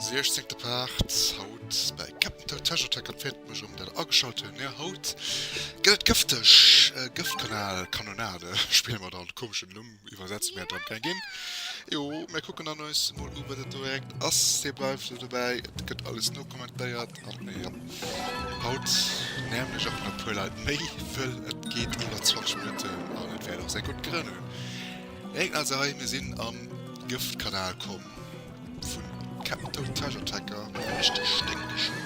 Siechzéngte Part, haut bei Captain Toad Treasure Tracker. Et freet mech erëm, datt der ageschalt hutt. Jo, haut gëtt et gëfteg. Gëftkanal, Kanonade spille mer dann. Komeschen Numm iwwersetze mir dann gär ginn. Jo, mir kucken dann eis emol u wat et do direkt ass. Dir bleift elo dobäi, et gëtt alles nokommentéiert. Haut nämen ech och nach puer Leit méi, wëll et geet iwwer 20 Minutten an et wäert och säi gutt Grënn hunn. Récken also hei, mir sinn am Gëftkanal komm vun Kempten, Treasure Tracker, mat der richteg sténkeger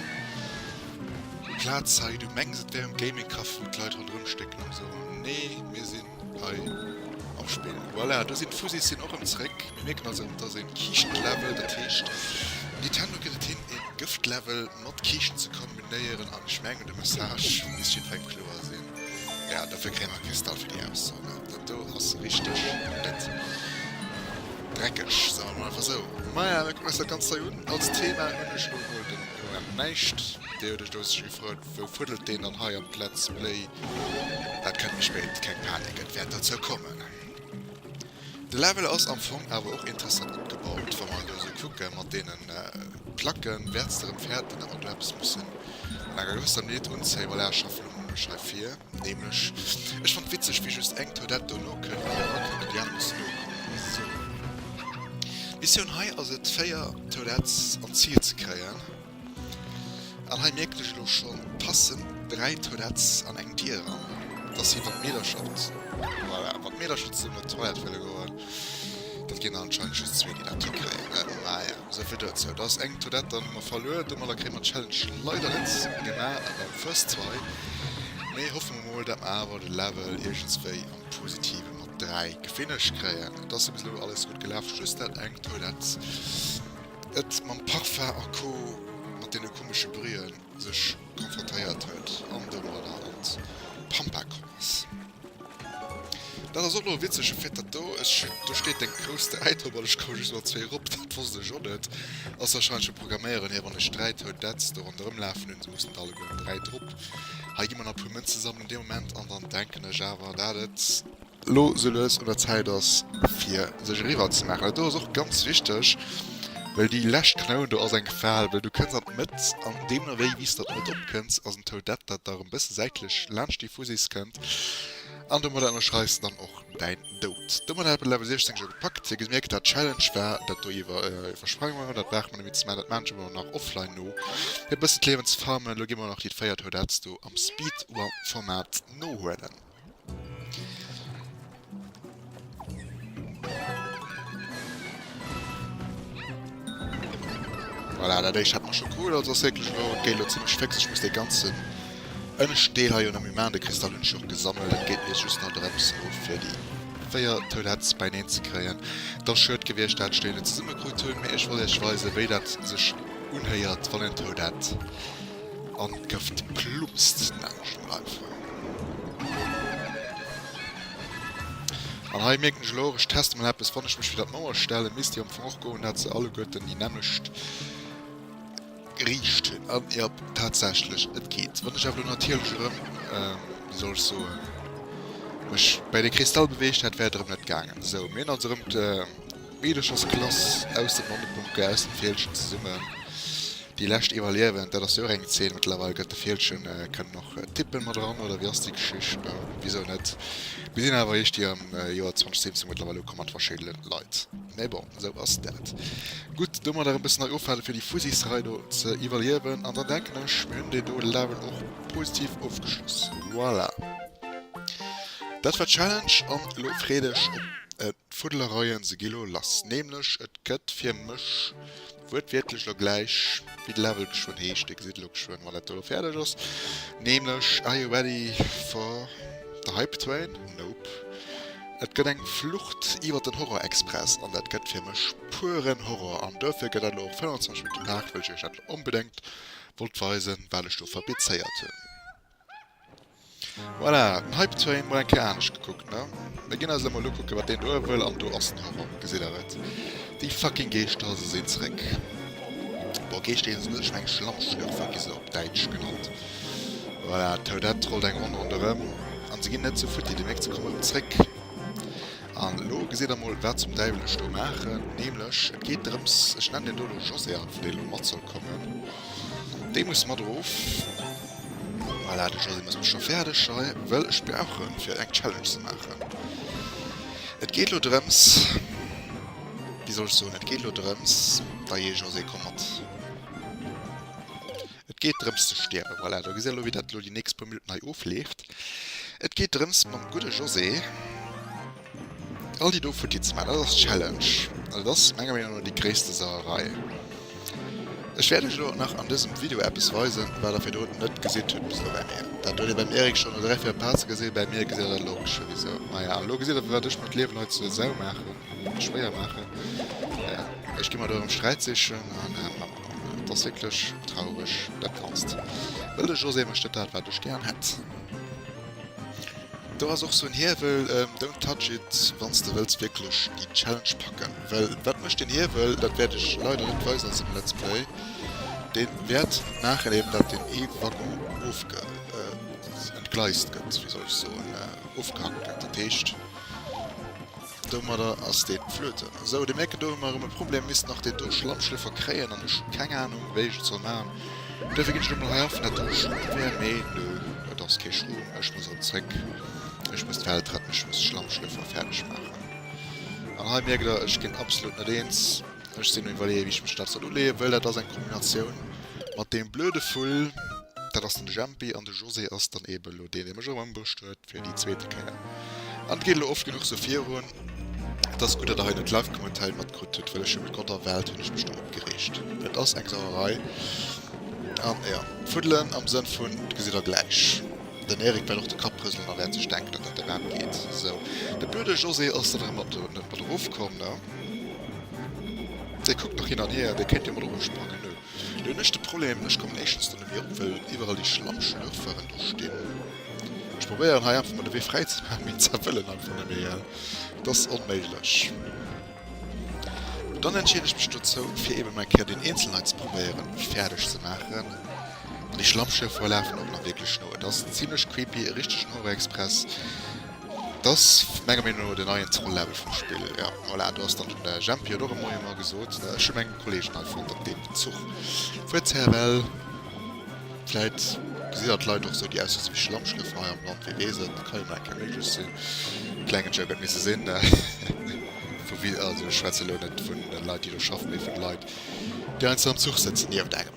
Plaz hei. Du mengs et wär um Gaming Café wou d'Leit ronderëm stécken an esou, mee mir sinn. hei am Spill. Voilà, do sinn d'Fuzis sinn och erëm zréck. Mir mierken also, et ass e Kiischtenlevel, dat heescht, Nintendo gëtt et hin, e Gëftlevel mat Kiischten ze kombinéieren. An ech mengen, de Message misst jiddwerengem kloer sinn. Ja, dofir kréie mer e Kristall fir déi Auszone. Dat do ass richteg net dreckeg, soe mer mol einfach esou. Maja, mir kucken eis dat Ganzt hei un. Als Thema hunn ech elo emol den Moment näischt. Dir hutt iech do séchergefreet, Wou fuddelt deen dann hei am Plätz Bléi? Dat kënnt méi spéit, keng Panik, et wäert derzou kommen. De Level ass am Fong awer och interessant opgebaut, wa mer elo esou kucke mat deene Placken, wäerts de erëm fäerten, datt mer do eppes mussen an enger gewësser Minutt unzéien. Voilà, ech schaffen elo mol mech hei vir, nämlech, ech fannt witzeg, wéi just eng Toilette do nokënnt, déi hei erëkënnt, an déi aner mussen nokommen. Esou, d'Missioun hei ass et, 4 Toilettes an d'Zil ze kréien. An hei mierkt ech elo schon passend 3 Toilettes an eng Dier eran, dass si wann d'Meedercher, voilà, wann d'Meedercher zesummen op d'Toilette wëlle goen, dat ginn der anscheinend just zwee déi dat hikréien, ne? Maja, souvill dozou. Da ass eng Toilette dann hu mer verluer, domadder kréie mer d'Challenge leider net gemaach an der first try, mee hoffe mer mol dat mer awer de Level iergendswéi am Positiven mat 3 gefinished kréien. Et ass jo bis elo alles gutt gelaf, just dat eng Toilette. Et mam Parfum a Co. Mat deene komesche Brühen sech konfrontéiert huet an domadder an d'Pampa komm ass. Dat ass och lo witzeg, e Fait dat do, do steet deng grouss Däit op an ech komme just mat zwee erop, dat wosst ech och net. Ass wahrscheinlech vum Programméieren hier, wann ech dräi Toun Dätz do ronderëm lafen hunn, se mussen der alleguer dräi drop. Hei gi mer nach e puer Mënze sammelen dee Moment an dann denken ech awer dat et. Lo sou lues un der Zäit ass fir sech eriwwer ze maachen. Dat do ass och ganz wichteg, well déi lescht Knoun do ass eng Gefal, well du kënns an d'Mëtt an deemno wéi wéi s de an d'Mëtt opkënns ass en Toadette dat da erëm e bësse säitlech laanscht déi Fusiss kënnt an domadder ënnerschreis de dann och däin Dout. Domadder hat Level 16 scho gepackt. Dir gemierkt dat d'Challenge war dat do iwwer iwwersprangen hunn, dat brauch mer net méi ze man, dat maachen ech elo elo nach offline no fir e bësse d'Liewen ze farmen. Elo gi mer nach déi 4 Toadettes do am Speed Run Format nohuelen. Voilà, dat éischt hat mer scho cool, also ass wierklech elo, et geet elo zimmlech féx. Ech muss dee ganzen ënnescht Deel hei jo nëmme man, de Kristall hunn ech jo och gesammelt. Et geet elo just nach drëms elo fir déi véier Toiletts beineen ze kréien. Et ass schued gewiescht dat Stéier net zesummekrut hunn, mee ech wollt iech weisen, wéi dat sech unhéiert, wann en Toilette an d'Këft plumpst, nenne ech et mol einfach. An hei mierken ech elo och, ech teste mol eppes, wann ech mech fir dat Mauer stellen, misst déi am Fong och goen, dat se alleguerten déi nämmlecht Riicht hunn. An jo, tatsächlech, et geet. Wann ech awer elo natierlech erëm, wéi soll ech soen, mech bei de Kristall beweegt hätt, wär et erëm net gaangen. Sou, mir hunn also erëm D'Meederchersklass aus dem Landebunker, aus dem Fieldchen zesummen, déi lescht iwwerliewen, dat ass jo och eng Zeen mëttlerweil. Gëtt de Fieldchen, kënnen och d'Tippen mat eran oder wéi ass déi Geschicht? Bon, wisou net, mir sinn awer eréischt hir am Joer 2017 mëttlerweil ukomm mat verschiddene Leit, mä bon, esou ass dat. Gutt, domadder e bëssen nei Ofwäerte fir déi Fusisrei do ze iwwerliewen an dann denken ech, mir hunn deen do Level och positiv ofgeschloss. Voilà, dat war d'Challenge an elo freet iech op e. D'Fuddelereien se gi lo lass, nämlech et gëtt fir mech wuertwiertlech lo gläich wéi de Level geschwënn heescht, Dir gesitt elo geschwënn wann dat do lo fäerdeg ass, nämlech Are you ready for the hype train? Nope. Et gëtt eng Flucht iwwer den Horror-Express an dat gëtt fir mech pueren Horror an duerfir gëtt dat lo och 25 Minutte Paart, well ech iech dat lo onbedéngt wollt weisen, wat ech do fabrizéiert hunn. Voilà, den Hype Train mol eng Kéier anescht gekuckt, ne? Mir ginn eis elo mol ukucken, wat deen do hei wëll, an do ass en Horror, gesitt Der et? Déi fucking Geeschter, se sinn zréck! Bon, Geeschter heeschen se net, ech mengen Schlammschlürfer gi se op Däitsch genannt. Voilà, d'Toadette trollt eng Ronn ronderëm, an se ginn net sou futti, demnächst, se kommen erëm zréck. An elo gesitt Der mol, wat zum Däiwel ech do maachen, nämlech, et geet drëms, ech nennen deen do elo José, an vu deen elo mat soll kommen, dee muss mat erof. Voilà, de Jeu den ass och scho fäerdeg hei, well ech brauchen fir eng Challenge ze maachen. Et geet elo drëms, wéi soll ech soen, et geet elo drëms, da jee ech och se komm mat. Et geet drëms ze stierwen, voilà, do gesitt der elo wéi dat elo déi nächst puer Minutten hei ofleeft. Et geet drëms mam gudde José. All déi do Futti ze man, dat ass Challenge, an et ass menger Meenung no déi gréisste Sauerei. Ech wäert iech elo och nach an dësem Video eppes weisen, wat der virdru net gesitt hutt bis elo bäi mir. Dat huet dir beim Eric schonn no 3, 4 Parts gesinn, bäi mir gesitt der dat elo och scho bis elo. Maja, an elo gesitt der, firwat ech mer d'Liewen hei zur Sau maachen, oder schwéier maachen. Maja, ech gi mer do erëm Sträit sichen, an maja, et ass wierklech traureg, dat Ganzt. Well de José mécht net dat, wat ech gären hätt. Do ass och sou en Hiewel, don't touch it wanns de wëlls wierklech déi Challenge packen, well wat mécht deen Hiewel, dat wäert ech leider net weisen an sengem Let's Play, deen wäert maachen eben dat deen ee Waggon ofge entgleist gëtt, wéi soll ech soen, ofgehackt gëtt, dat heescht. Domadder ass deen flueten. Sou, de mierken do hu mer erem e Problem, misst nach deen do Schlammschlëffer kréien an ech hu keng Ahnung wéi ech et soll machen. Duerfir gin ech lo mol hei affen dat do e Schrumm wär, mee nö et ass kee Schrumm, ech muss erem zréck, ech muss d'Welt retten, ech muss Schlammschlëffer färdeg machen. An hei mierkt der ech gin absolut net eens, ech sin um iwwerleeën wéi ech mech dat soll uleeën, wëll dat ass eng Kombinatioun mat deem blöde Vull, dat ass den Jempi an de José ass dann eben lo deen dee mech erem ëmbruecht huet. Fir déi zweete Kéier. An et geet elo oft genuch sou virun. Et ass gutt, datt Der hei net live kommen an d'Hell matkritt hutt, well ech hu mat Gott a Welt hunn ech mech do opgereegt. Et ass eng Sauerei. An, jo, fuddelen am Sënn vun, et gesitt Der gläich. Den Eric wäert och de Kapp rëselen a wäert sech denken, datt dat derwat geet. Sou. De blöde José ass da nach ëmmer do net mat erofkomm, ne? Dee kuckt nach hin an hier. Dee kéint jo mat erofsprangen, ne? Elo hun ech de Problem, ech kommen éischtens do net méi op, well iwwerall déi Schlammschlürferen do stinn. Ech probéieren hei einfach mol de Wee fräi ze maachen, mee ze wëllen einfach net méi, et ass onméiglech. Dann entscheeden ech mech dozou, fir eben mol eng Kéier deen eenzelen hei ze probéieren fäerdeg ze maachen. An déi Schlammschürfere lafen och nach wierklech no. Et ass zimlech creepy, e richtegen Horror-Express. Et ass menger Meenung no den neien Zoll Level vum Spill. Jo voilà, do ass dann den Jempi huet och e Moie Moie gesot. Ech hu meng Kolleegen hei fonnt op deem Zuch. Wuert zur REBEL, Vläit gesi der d'Leit och esou, déi aussoen, se wier Schlammschlëffer hei am Land, wie weess et. Ka jo nach eng Kéier méiglech sinn. Klengen Joke huet misse sinn. Vu wie, also ech schwätze elo net vun de Leit, déi do schaffen, mee vun de Leit, déi einfach am Zuch sëtzen, déi op der.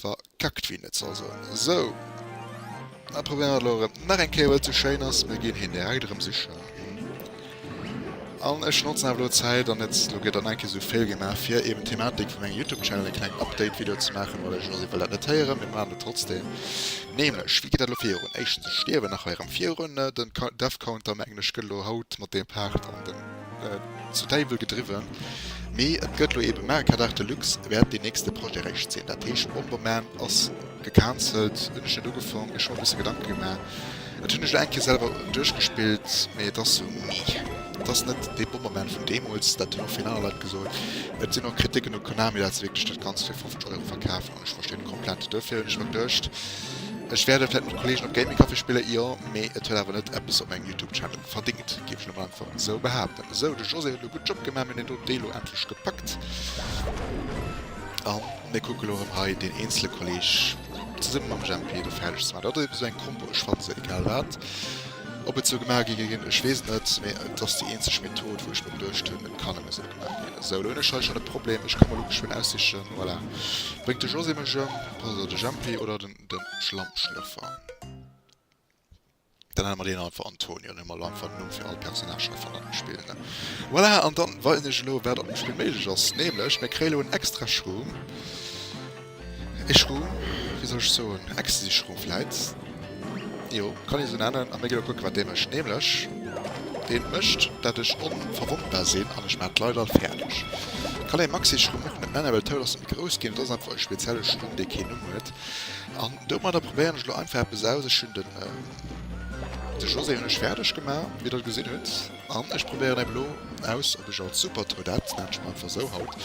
Verkackt wéi net soll soen. Sou. Dann probéieren wir lo erem nach eng Kéier well zu schéin ass. Mir gin hien direkt erem sichen. An ech notzen awer lo d'Zäit an net lo gett dann eng Kéier sou fail gemaach fir eben d'Thematik vu mengem Youtube Channel e kleng Update Video ze maachen well ech si well dat net héieren. Mir maachen et trotzdem. Nämlech wéi geet dat lo virun? Éischtens ech stierwen nach hei erem virun. Den Ka Death Counter mengen ech gëtt lo haut mat deem Part an den. Zu Däiwel gedriwwen, mee et gëtt lo eebe Merca d'Art de Luxe wäert deen nächste Projet eréischt sinn. Dat heescht Bomberman ass gecancelt. Hunn ech net ugefaang, mir schonn e bësse Gedanke gemaach. Et hunn ech lo eng Kéier selwer duerchgespillt, mee et ass sou mee. Et ass net dee Bomberman vun deemools, dat hunn och vill aner Leit gesot. Et sinn och Kriticken u Konami, dat se wierklech dat Ganzt fir 50 Euro verkafen hunn. Ech verstinn et komplett. Duerfir hunn ech mer geduecht, ech wäert et vläit mat Kollegen op Gaming Café spillen, jo, mee et huet awer net eppes op mengem Youtube Channel verdéngt, Kann een einfach esou behaapten. Esou, de José huet elo gutt Job gemaach. Mir hunn en doten Deel elo endlech gepackt. An mir kucke elo erëm hei deen eenzele Kolleg zesumme mam Jempy do fäerdeg ze maachen. Dat ass eben esou eng Kombo. Ech fanne se egal wat. Ob et esou gemaach gi ginn, ech weess et net. Mee et ass déi eenzeg Method, wou ech mer geduecht hunn, et kann ëm esou gemaach ginn. Esou, elo hunn ech hei schonn e Problem. Ech ka mer elo geschwënn aussichen. Voilà. Bréngt de José mech ëm, oder de Jempy, oder den Schlammschlëffer. Dann hate mer deen einfach Antonio, dann hu mer elo einfach en Numm fir all Personnage hei vun am Spill. Voilà, an da weisen ech elo, wat an dem Spill méiglech ass. Nämlech, mir kréie elo en extra Shroom. E Shroom, wéi soll ech soen, en Ecstasy-Shroom vläit? Jo, kann een esou nennen. A mir ginn elo kucke, wat dee mécht. Nämlech, dee mécht, dat ech onverwondbar sinn an ech maachen d'Leit all fäerdeg. Kann ee Maxi-Shroom och net nennen, well d'Tour ass ze grouss ginn. Et ass einfach e spezielle Shroom, dee keen Numm huet. An Domadder probéieren ech lo einfach eppes aus. Ech hunn den de José hunn ech fäerdeg gemaach, wéi der gesinn hutt, an ech probéieren elo aus, ob ech als Supertruh, dat nenne ech mol einfach esou haut,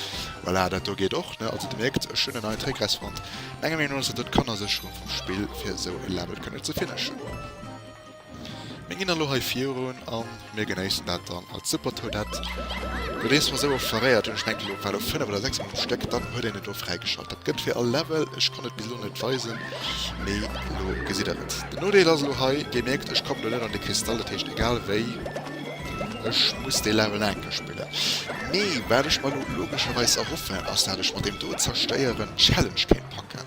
voilà, dat do geet och, ne, also Dir mierkt, ech hunn en neien Trick rausfonnt. Menger Meenung no ass dat et Kannersécherung vum Spill, fir esou e Level kënne ze finishen. Mir gin dann elo hei virun an mir genéissen dat dann als super Toadette. Lo dees mer esou oft verréiert hun, ech mengen elo war lo 5 oder 6 mol um Stéck, dann huet een et elo fräigeschalt. Dat gëtt fir all Level, ech konnt et bis elo net weisen, mee elo gesitt der et. Den Nodeel ass elo hei, dir mierkt ech kommen elo net an de Kristall, dat heescht egal wéi ech muss dee Level nach eng Kéier spillen. Mee wat ech mer elo logescherweis erhoffen ass dat ech mat deem do zerstéieren d'Challenge kéint packen.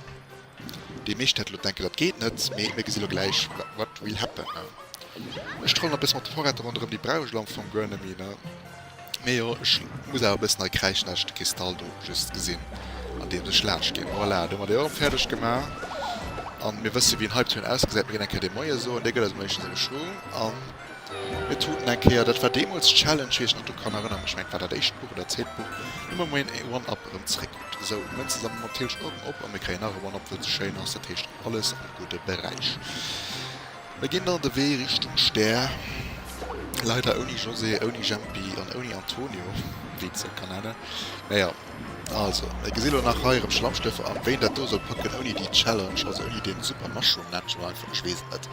Déi meescht hätte lo denken, dat geet net, mee mir gesi lo gläich, what will happen. Ech trollen e bësse mat de Vorräter ronderëm, déi brauch ech lo am Fong guer net méi. Mee jo, ech muss awer e bëssen hei kräischen, dat ech de Kristall do just gesinn, andeems ech laanscht ginn. Voilà, do hu mer déi och erëm fäerdeg gemaach. A mir wësse wéi en Hype-Train ausgesäit, mir ginn eng Kéier dee Moie soen, dee gëtt eis méischtens erëm Schwung. Mir tuten eng Kéier, dat war deemools d'Challenge, wéi ech nach dru kann erënneren, mech mengt, et war dat éischt Buch oder zweet Buch, ëmmer muer een ee One-Up erëm zeréckgeet. Esou, elo Mënze sammele mer op d'Hierscht och erëm op a mir kréien nach e One-Up, wou et esou schéin ass, dat heescht Alles am gudde Beräich. Mir ginn dann de Wee Richtung Stär, leider ouni José, ouni Jempi an ouni Antonio, wéi een se och kann nennen. Mä jo, also, mir gesi lo nach hei erëm Schlammstëffer an wéi een dat do soll packen ouni déi Challenge, also ouni dee super Mushroom Natural einfach, ech weess et net.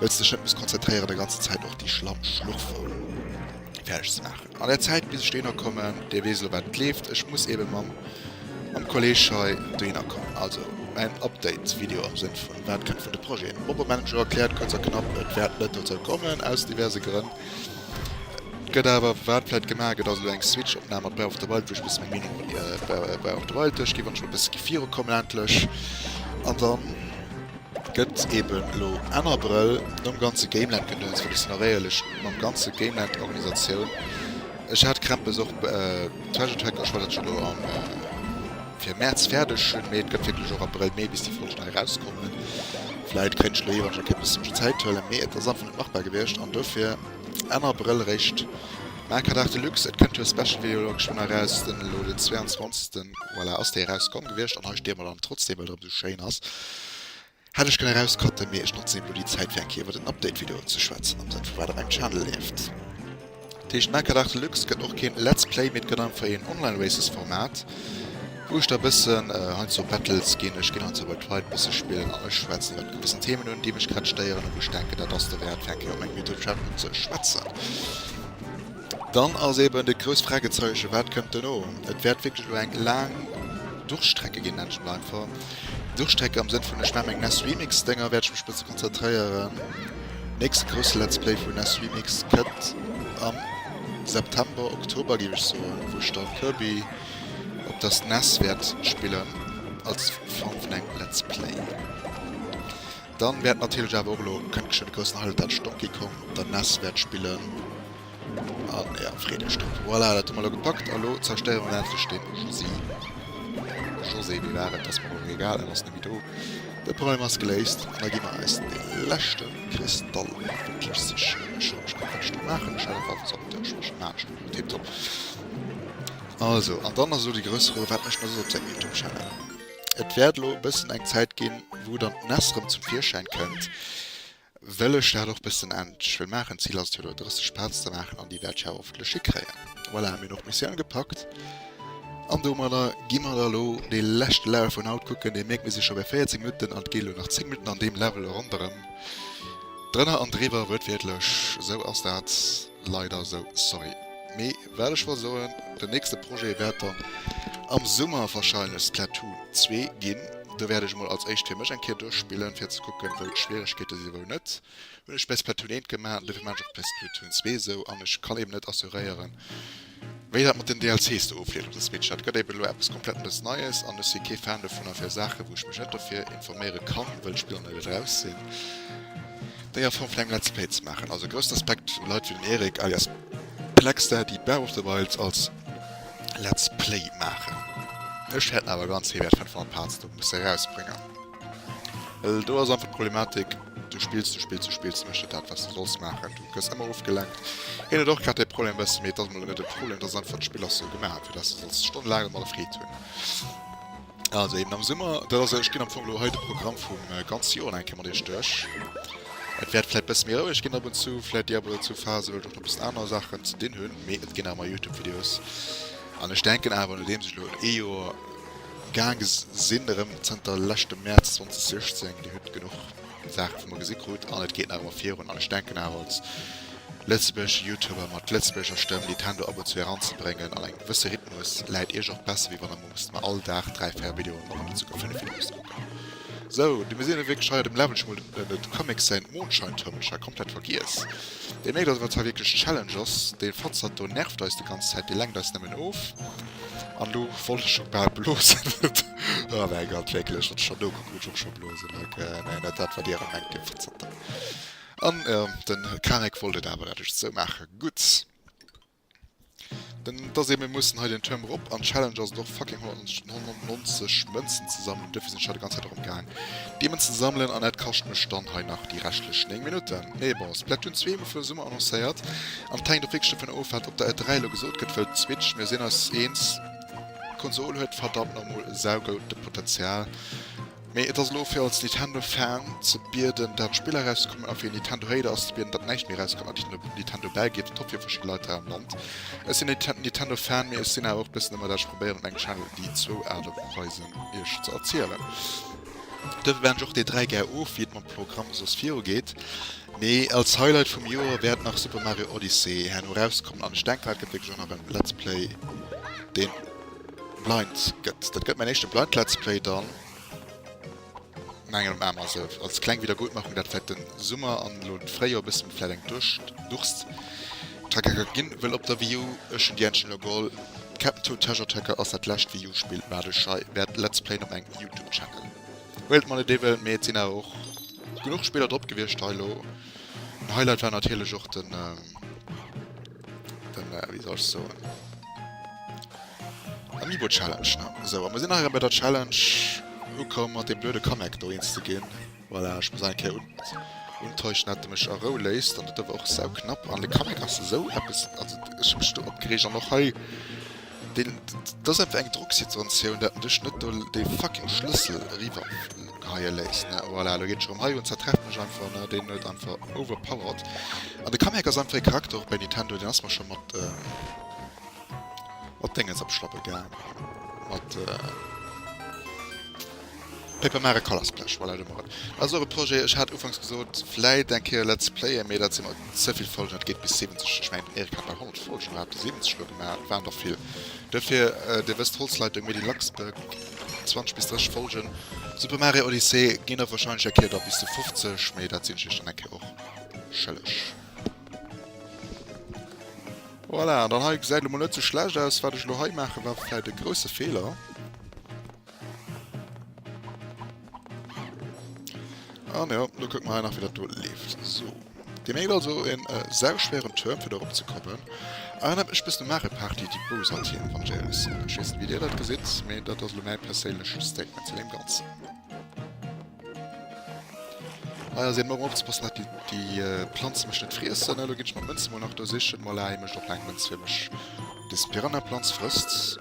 Wëlls dech net muss konzentréieren der ganzer Zäit och déi schlamm Schlurfer fäerdeg ze maachen. An der Zäit bis ech dohinner kommen, Dir weess elo wat et leeft, ech muss eben mam mam Kolleg hei dohinner kommen. Also en Update Video am Sënn vun wat kënnt vun de Projeten. Opera Manager erkläert kuerz a knapp, et wäert net dozou kommen aus diverse Grënn. Et gëtt awer wat vläit gemaach, et ass elo eng Switch Opnam mat Breath of the Wild wou ech bësse meng Meenung iwwer Breath of the Wild duerch ginn, wann ech elo bësse gi virukommen endlech an dann. Gëtt eben elo Enn Abrëll nom ganze Gameland Gedöns, well ech sinn och éierlech, mam ganze Gameland Organisatioun, ech hat Krämpes och Treasure Tracker, ech wollt dat scho elo am fir März fäerdeg hunn, mee et gëtt wierklech och Abrëll, Mee bis déi Folge nei erauskommen. Vläit kéint ech elo iwwerregens och e bësse mech Zäit huelen, mee et ass einfach net machbar gewiescht an dofir Enn Abrëll eréischt Makerdag Deluxe. Et kënnt jo e Special Video elo geschwënn eraus, den elo den 22. Voilà, ass dee erauskomm gewiescht an hei steeë mer dann trotzdeem, well der ëmsou schéin ass. Hätt ech kënne raus cutten, mee ech notzen eben lo déi Zäit fir eng Kéier iwwert en Update Video ze schwätzen, am Sënn vu wat op engem Channel leeft. Teecht Macadag Deluxe gëtt och keen Let's Play, mee et gëtt einfach een Online Races Format wou ech da bëssen heiansdo Battles ginn, ech ginn heiansdo bei Pride bësse spillen an ech schwätzen iwwert gewissen Themen un déi mech grad stéieren a wou ech denken dat ass derwäert fir eng Kéier op mengem Youtube Channel un ze schwätzen. Dann ass eben de grouss Fragezeichen, wat kënnt dono? Et wäert wierklech elo eng laang Durchstrecke ginn, nennt ech mol einfach. Durchstrecke am Sënn vun, ech maachen meng NesRemix-Dénger, wäert ech mech bësse konzentréieren. Nächste grousse Let's Play vun NesRemix kënnt am September, Oktober géif ech soen, wou ech da Kirby op der SNES wäert spillen als Form vun engem Let's Play. Dann wärt natierlech awer och elo kënnt scho de groussen Highlight dat Donkey Kong der nes wärt spillen an jo freet iech drop. Voilà dat hu mer elo gepackt a lo zerstéiere mer endlech den Josy. José wéi war et? Ass mer och egal en ass nemme do. De Problem ass geléist an da gi mer eis de leschte Kristall endlech sichen. Ech soll mech grad näischt dru maachen, ech hat einfach Zauber Dësch mech maachen ech grad tiptop. Also an dann ass elo de grousse Rou wat mécht en da soss op sengem Youtube Channel. Et wäert elo e bëssen eng Zäit ginn, wou dann d'Näss erëm zum Virschäin kënnt, well ech dat och e bëssen endlech wëll maachen. D'Zil ass et jo elo 30 Pads ze maachen an déi wäert ech awer hoffentlech hikréien. Voilà, hu mir och d'Missioun agepackt an domadder gi mer da elo dee leschte Level vun haut kucken. Dir mierkt, mir si scho bei 14 Minutten an et geet elo nach 10 Minutten an deem Level ronderëm. Drënner an driwwer, wuertwiertlech esou ass dat. Leider esou, sorry. Mee wat ech wollt soen, den nächste Projet wäert dann am Summer wahrscheinlech Splatoon 2 ginn. Do wäert ech emol als éischt fir mech eng Kéier duerchspillen, fir ze kucken, wou d'Schwieregkeete sinn a wou net. Hunn ech bei Splatoon 1 gemaach an dofir maachen ech och bei Splatoon 2 esou. An ech kann eben net assuréieren, Wéi dat mat den DLCs do ofleeft op de Switch, dat gëtt eben elo eppes komplett nees Neies an ech si kee Fan dovunner fir Saachen wou ech mech net dofir informéiere kann, wëll d'Spiller net eraus sinn, déi a Form vun engem Let's Play ze maachen. Also groussen Respekt u Leit wéi den Erik alias Plexter déi Breath of the Wilds als Let's Play maachen. Ech hätt awer ganz hir wäert 500 Parts do musse erausbréngen. Well do ass einfach d'Problematik, du spills, du spills, du spills, du méchs net dat, wat du solls maachen. Du gëss ëmmer ofgelenkt. Hien huet och grad dee Problem e bëssen, mee et ass mol elo net e Problem, et ass einfach, d'Spill ass sou gemaach, fir dass du solls stonnelaang domadder Freed hunn. Also eben am Summer, dat ass, ech ginn am Fong elo hei de Programm vum ganze Joer nach eng Kéier mat iech duerch. Et wäert vläicht e bësse méi roueg ginn ab und zu, vläicht déi ab oder zu Phase, well ech och nach e bëssen aner Saachen ze dinn hunn, mee et ginn nach ëmmer YouTube-Videos. An ech denken awer, nodeems ech elo ee Joer, Gaange sinn, erëm zënter leschtem Mäerz 2016. Dir hutt genuch Saache wou mer gesi krut an et geet nach ëmmer virun. An ech denken awer als lëtzebuergesche Youtuber mat lëtzebuergescher Stëmm déi Tendo abonzue eranzebréngen an engem gewësse Rhythmus läit iech och besser wéi wann der muusst mer all Dag dräi, véier Videoen oder net souguer fënnef Videos kucken. Sou, du mir sinn wierklech hei. Dem Levl hu mer den et Comics säin Mondscheintürmelcher komplett vergiess. Deen mierkt dass et eis hei wierklech Challenge ass. Deen Fatzert do nervt eis de ganz Zäit, dee lenkt eis nëmmen of. An lo wollt ech och bal blosen. Oh mäi Gott, wierklech, wat ech scho nokucke wou ech och scho blosen. Ok, nee, net dat wat dir elo mengt, dir Verzottener. An de Karek wollt et awer, dat ech et sou maache. Gutt. Dann ass ee, mir mussen hei den Tuerm erop. An d'Challenge ass et och fucking 190 Mënzen ze sammelen. Dofir sinn ech hei de ganze Zäit erëm gaang. D'Beemen ze sammelen an dat kascht mech dann hei nach déi reschtlech 9 Minutten. Nee bon, Splatoon 2 hu mer fir Summer annoncéiert an et hänkt och wierklech dovun of wat op der E3 elo gesot gëtt, well d'Switch, mir sinn eis eens, d'Konsol huet verdammt normool saugoute Potenzial, mee et ass elo fir als Nintendo Fan ze bieden dat Spill erauszekommen a fir een Nintendo Hater ass ze bieden dat näischt méi erauskommen a Nintendo bäi geet, top fir verschidde Leit hei am Land. Ech sinn en Nintendo Fan, mee ech sinn awer och bëssen ëmmer dat ech probéieren op mengem Channel déi zwou Aart a Weisen iech ze erzielen. Duerfir beenden ech och dee 3 gär of, wéi et mam Programm soss virugeet. Mee als Highlight vum Joer wäert nach Super Mario Odyssey herno erauskommen an ech denken, dat gëtt wierklech och nach en Let's Play, deen blind gëtt. Dat gëtt mäin éischte blind Let's Play dann. Mengen am Aarm also als kleng Wiedergutmachung dat vläit den Summer an elo den Fréijor e bëssen mat vläit eng Durscht Durst Tracker ka ginn wëll op der Wii U ech hunn déi endlech elo geholl Captain Toad Treasure Tracker ass dat lescht Wii U Spill wat ech hei wäert Let's Playen op mengem Youtube Channel Whale At Malediven mee et sinn awer och genuch Spiller drop gewiescht hei elo en Highlight war natierlech och den. Den, äh, wie soll ich so? Amiibo Challenge, ne? So, aber wir sind nachher bei der Challenge gekommen, mit dem blöden Kamek da zu gehen. Voilà, ich muss eigentlich hier unten. Untäuschen hat er mich anrollaced und das war auch sau knapp. Und der Kamek ist so etwas, also ich hab mich da abgeregt und auch hier. Deen dass einfach eng Drocksituatioun dat en dech net do dee fucking Schlëssel eriwwer geheie léisst ne voilà lo geet et scho rëm hei un zertrefft mech einfach ne deen huet einfach overpowered an de Kamek ass einfach ee Charakter och bei Nintendo deen ass mer scho mat mat Déngens op d'Schlappe gaangen mat. Paper Mare Color Splash, voilà, do mol mat. Dat ass och e Projet, ech hat ufanks gesot, vläit eng Kéier Let's Playen, mee dat si mer ze vill Folgen, dat geet bis 70. Ech mengen, den Eric hat nach 100 Folgen oder hatt der 70 elo gemaach, et waren der vill. Dofir, Dir wësst, Holzleitung, Made in Luxembourg, 20 bis 30 Folgen. Super Mario Odyssey ginn der warscheinlech eng Kéier da bis zu 50, mee dat sinn ech iech dann eng Kéier och schëlleg. Voilà, an dann hei gesäit elo mol net sou schlecht aus. Wat ech elo hei maachen, war vläit e grousse Feeler. An ah, jo, lo kuck mer nach, fir dat do leeft. So. Dir mégt also en äh, sauschwéieren Turm fir dorop ze kommen. An ah, ech bis de Mare Party déi Bowser Theme van Jails. Ech weess net, wéi Dir dat gesitt, mee dat ass lo mäi perséinlech Statement zu deem Ganzen. Hei ass een Mouer opzepassen dat déi Planze mech net friessen. Elo ginn ech meng Mënze mol nach do sichen. Mol leien mech och eng Mënz fir mech des Piranhaplanz frësst.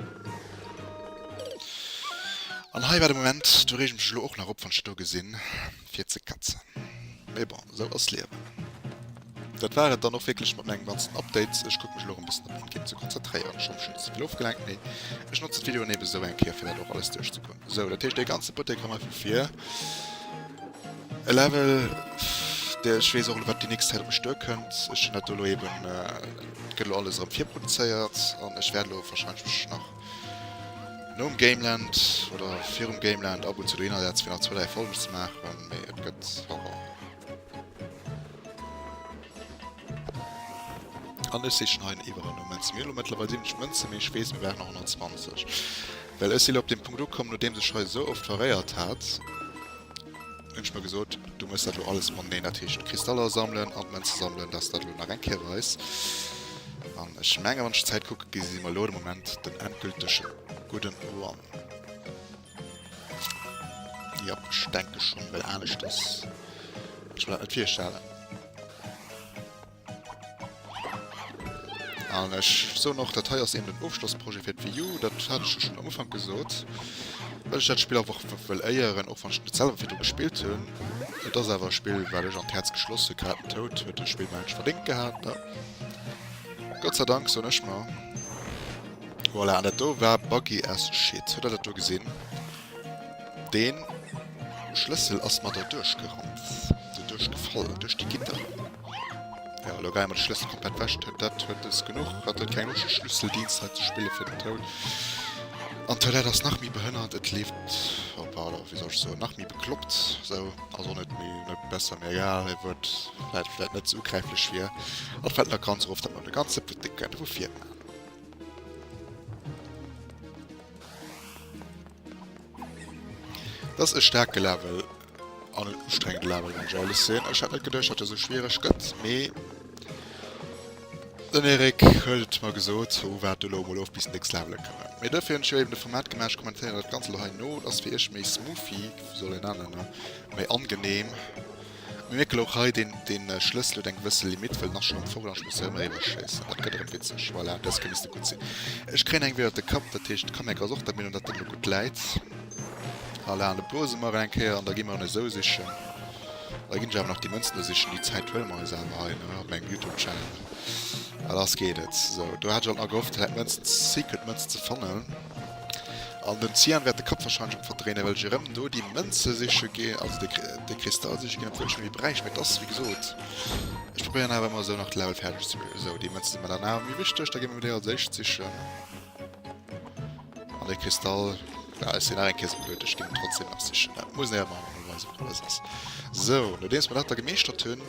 An hei war de Moment, do reege mech elo och nach op wann ech do gesinn fir ze katzen. Mee bon, esou ass d'Liewen. Dat war et dann och wierklech mat mengem ganzen Update. Ech kucke mech elo erëm e bëssen op den Game ze konzentréieren. Ech hoffen, ech hunn net ze vill ofgelenkt, mee ech notzen d'Videoen eben esou eng Kéier, fir dat och alles duerchzekucken. Sou, dat heescht, dee ganze Buttek erëm hei vu vir. E Level, dee ech weess och elo, wat déi nächst Zäit op mech duerkënnt. Ech hunn dat do elo eben, gëtt elo alles erëm virproduzéiert an ech wäert elo warscheinlech mech nach nom Gameland oder virum Gameland ab und zu dohinner setzen, fir nach zwou, dräi Folgen ze maachen, mee et gëtt. An ech sichen hei en Iwwerernumm. Zu mir elo mëttlerweil 70 Mënzen, mee ech weess, mir brauchen nach 120. Well ech si lo op deem Punkt ukomm, nodeems ech hei esou oft veréiert hat, hunn ech mer gesot, du méchs dat elo alles mateneen. Dat heescht, d'Kristaller sammelen an d'Mënze sammelen, dass dat elo nach eng Kéier weis. An ech mengen, wann ech d'Zäit kucken, gesi mer elo de Moment den endgülteg gudden Run. Ja, ich denke schon, weil alles das. Ich will halt vier Schalen. Und ich so noch, das hier ist eben ein Aufschlussprojekt für die EU, das hatte ich schon am Anfang gesagt. Weil ich das Spiel einfach will ehren, auch wenn ich nicht selber viel gespielt habe. Das ist aber ein Spiel, weil ich an das Herz geschlossen habe, tot, wird das Spiel mal nicht verdient gehabt. Ne? Gott sei Dank, so nicht mehr. Voilà, an dat do war buggy as shit. Huet der dat do gesinn? Deen Schlëssel ass mer do duerchgerannt, do duerchgefall, duerch déi Gitter. Jo, elo geie mer de Schlëssel komplett weg tun. Dat huet es genuch. Hatt huet keng Loscht de Schlüsseldienst hei ze spillen fir den Toun. An d'Toilette ass nach méi behënnert. Et leeft, oh pardon, wéi soll ech soen, nach méi bekloppt. Sou, ass och net méi, net besser. Mee egal, e Wuert wat vläit net sou ugräiflech wier. An et fällt mer ganz erof, datt mer de ganze Putt net kënne vu vir maachen. Dass e starke Level an en ustrengende Level wann ech ehrlech sinn. Ech hat net geduercht dat e sou schwiereg gëtt mee den Eric huet et mer gesot wou wat elo mol of bis den nächste Level kënne. Mee dofir hunn ech jo eben de Format gemaach, ech kommentéieren dat Ganze elo hei no, et ass fir iech méi smoothie, wéi soll een dat nennen, méi angenehm. Mir mierken och hei den Schlëssel huet eng gewësse Limite, well en ass schon am Vogelarsch, muss hei emmer eriwer schéissen. Dat gëtt erem witzeg. Voilà, dës kéint misste gutt sinn. Ech kréien eng ewéi ënnert de Kapp, dat heescht d'Kamérak ass och der Meenung dat en elo gutt läit. Voilà, an da blose mer eng Kéier an da gi mer en esou sichen. Da ginn ech awer nach déi Mënzen do sichen, déi Zäit huele mer eis awer hei, ne, op mengem Youtube Channel. Voilà, ass geet et. Sou, do hat ech alt nach gehofft et hätt Mënzen, Secret Mënzen ze fannen. An den Cyan wärt de Kapp wahrscheinlech am verdréinen well ech erem do déi Mënze siche ginn, also de de Kristall siche ginn obwuel ech méi bräicht mee et ass wéi gesot ech probéieren awer emmer esou nach d'Level färdeg ze bréngen. Esou déi Mënze sinn mer dann awer méi wichteg, da gi mer déi als éischt sichen an de Kristall ja ech sinn nach eng Kéier esou blöd ech ginn en trotzdem nach sichen dat muss een awer emol weisen wat alles ass. Esou nodeems mer dat da gemeeschtert hunn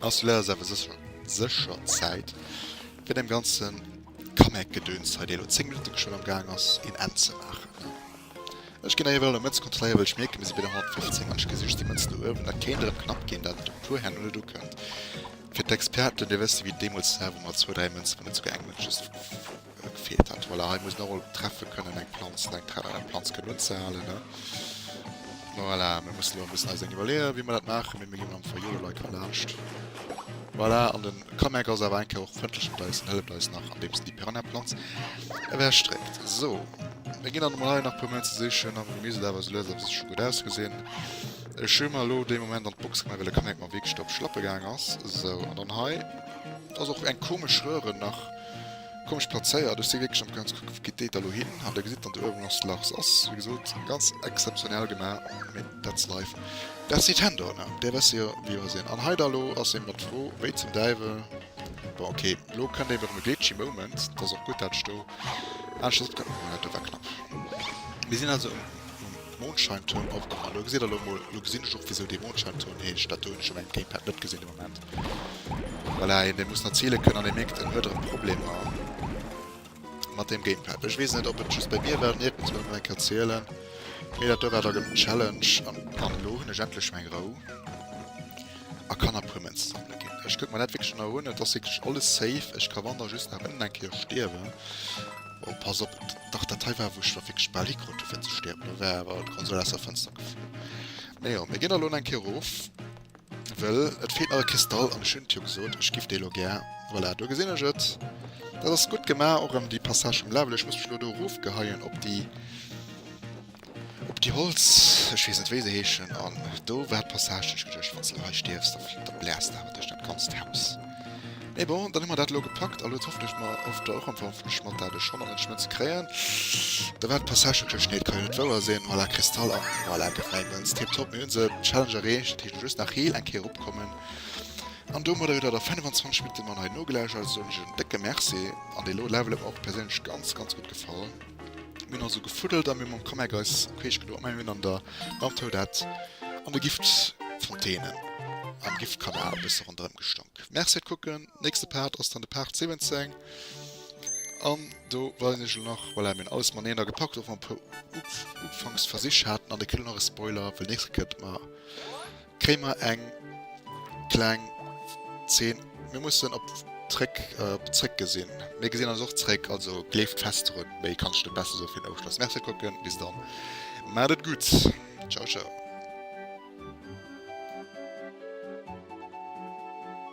ass lo leider awer sécher sécher Zäit fir dem ganzen Comeback-Gedöns hei, dee elo 10 Minutten geschwënn am Gaang ass een Enn ze maachen. Ech ginn ewell elo Mëtz kontrolléieren, well ech mierken, mir si bei der 115 an ech gesi just déi Mëtz do uewen. Dat kéint erëm knapp ginn, dat et op e puer Hänn net ukënnt. Fir d'Experten, Dir wësst, wéi deemools hei, wou mer zwou, dräi Mënzen, wou net souguer eng Mënz just gefeelt hat. Voilà, hei muss een och emol treffe kënnen, eng Planz oder eng Train an eng Planz kënnen unzehalen. Voilà, mir mussen elo e bëssen eis eng iwwerleeën, wéi mer dat maachen, mee mir ginn am Fong Jolelei ka laanscht. Voilà, an den. Kameck ass awer eng Kéier och frëndlech mat eis an hëlleft eis nach andeems en déi Piranha-Planz ewechstréckt. Sou, mir ginn dann emol hei nach e puer Méint ze sichen a mir miisst et awer esou lues a sécher gutt ausgesinn. Ech hu mer elo dee Moment an d'Box gemaach, well de Kameck mer wierklech do op d'Schlappe gaang ass. Sou, an dann hei ass och eng komesch Röhre nach. Komm spazéiert, ech si wierklech am Kranz, kuckt gitt déi da lo hin an der gesitt dann de Urban Lost Lars ass wéi gesot ganz exzeptionell gemaach, mee that's life, that's Nintendo ne, déi wësse jo wéi mer sinn an hei da lo ass een mat fro wéi zum Däiwel, bon ok lo kënnt een bei erëm e glitchy Moment, et ass och gutt dat ech do aneschters opgehalen hunn, well dat do war knapp. Mir sinn also um Mondscheinturm opgehalen, lo gesitt der lo emol, lo gesinn ech och wisou dee Mondscheinturm heescht, dat do hunn ech um engem Gamepad net gesinn. Voilà, een dee muss nach ziele kënnen an ee mierkt en huet erëm Problemer mat deem Gamepad. Ech weess net ob et just bei mir war, nierk muss mer dat nach eng Kéier zielen. Mee dat do war da genuch Challenge an an elo hunn ech endlech meng Rou a kann a puer Mënze sammele ginn. Ech kucke mer dat wierklech nach un, et ass wierklech alles safe. Ech ka wann da just nach ënnen eng Kéier stierwen. Oh pass op, dach dat hei war wou ech da wierklech bal hikrut du fir ze stierwen, do war awer d'Konsol aus der Fënster geflunn. Mee jo, mir ginn da lo nach eng Kéier erof. Well et feelt nach e Kristall an ech hunn jo gesot ech giff dee lo gär. Voilà, do gesinn ech et. Dat ass gutt gemaach, och erëm déi Passage vum Level. Ech muss mech elo do erofgeheien op déi, op déi Holz, ech weess net wéi se heeschen. An do war d'Passage, déi ech geduecht, wann s de hei stierfs, da bläers de awer duerch dat ganzt Haus. Mee bon, dann hu mer dat elo gepackt. Allo hofft ech mer oft och am Fong vum Schmatt dat e Schong an den Schmëtt ze kréien. Da war d'Passage tëscht Schnee, et ka jo net wouer sinn. Voilà, Kristall an voilà, gëtt mäi Mënz. Tip top, mir hunn se, Challenge erreecht. Dat heescht elo just nach heel eng Kéier erupkommen. An domadder gëtt dat a 25 Minutte man hei nogelauschtert. Also soen ech en décke Merci. An dee lo Level huet mer och perséinlech ganz, ganz gutt gefall. Mir hunn also gefuddelt a mir mam Kameck eis queesch gedo a mir hunn an der Landhou dat an de Giftfontäne am Giftkanal e bësse ronderëm gestonk. Merci fir d'Kucken. Nächste Part ass dann de Part 17. An do weisen ech elo nach, voilà, mir hunn alles mateneen a gepackt, och wa mer e puer Ufanksversich haten. An e kënnt elo nach e Spoiler, well nächste Kéier kënnt mer Kréie mer eng kleng Zeen. Mir mussen op zréck op zréck gesinn. Mir gesinn eis och zréck. Also gleeft fest drun. Méi kann ech net besser soe fir den Ofschloss. Merci fir d'Kucken. Bis dann. Maacht et gutt. Ciao ciao.